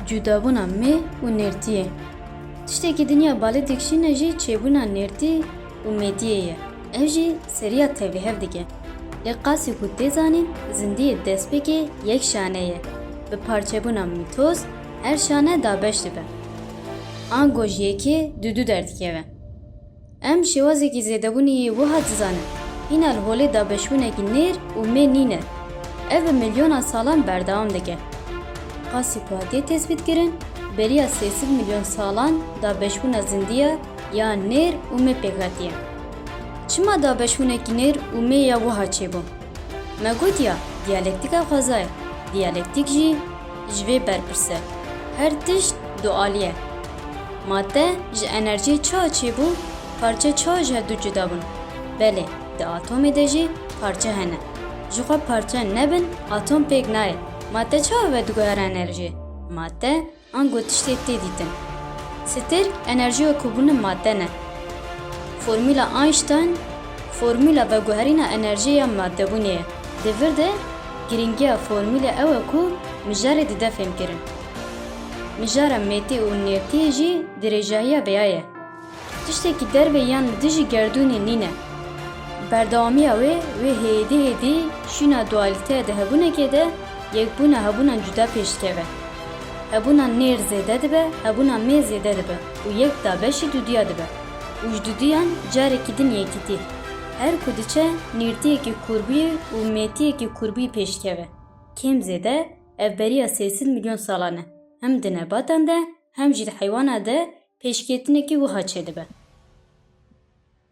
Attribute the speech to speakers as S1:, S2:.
S1: Cudabûna me û nêrtiyê. Tiştekî dinya balê dikişîne jî çêbûna nêrtî û mêdiyê ye. Ev jî seriya tevlihev dike. Lê qasî ku tê zanîn zindiyê destpêkê yek şane ye. Bi parçebûna mîtos her şane dabeş dibe. Ango ji yekê dûdû derdikeve. Em şêwazekî zêdebûnê yê wiha dizanin, hîna li holê dabeşbûnekî nêr û mê nîn e. Ev bi milyonan salan berdewam dike. Qasî ku hatiye tespîtkirin, beriya sê sed milyon salan dabeşbûna zindî ya ya nêr û mê pêk hatiye. Çima dabeşbûnekî nêr û mê ya wiha çêbû? Me got ya diyalektika xweza ye, diyalektîk jî ji vê berpirse. Her tişt dualî ye. Madde ji enerjiyê çawa çêbû? Parçe çawa ji hev du cuda bûn? Belê, di atomê de jî parçe hene. Jixwe parçe nebin atom pêk nayê. Madde çawa vediguhere enerjiyê? Madde an ku tiştê tê dîtin. Sitêr enerjiya ku bûne madde ne. Formula Einstein formula veguherîna enerjiyê ya maddebûnê ye. Di vir de girîngiya formulê ew e ku mijarê dide fêmkirin. Mijara mêtî û nêrtîyê jî dirêjahiya bêya ye. Tiştekî derve yan li dijî gerdûnê nîne. Berdewamiya wê, wê hêdî hêdî şîna dualîteya di hebûnekê de yekbûna hebûnan cuda pêş dikeve. Hebûna nêr zêde dibe, hebûna mê zêde dibe û yek da beşî dudûya dibe û ji dudûyan carekî din yekîtî. Her ku diçe nêrtîyekî kûrbûyî û mêtîyekî kûrbûyî pêş dikeve. Kêm zêde. Ev beriya sê sed milyon salan e. Hem di nebatan de hem jî di heywana de pêşketinekî wiha çêdibe.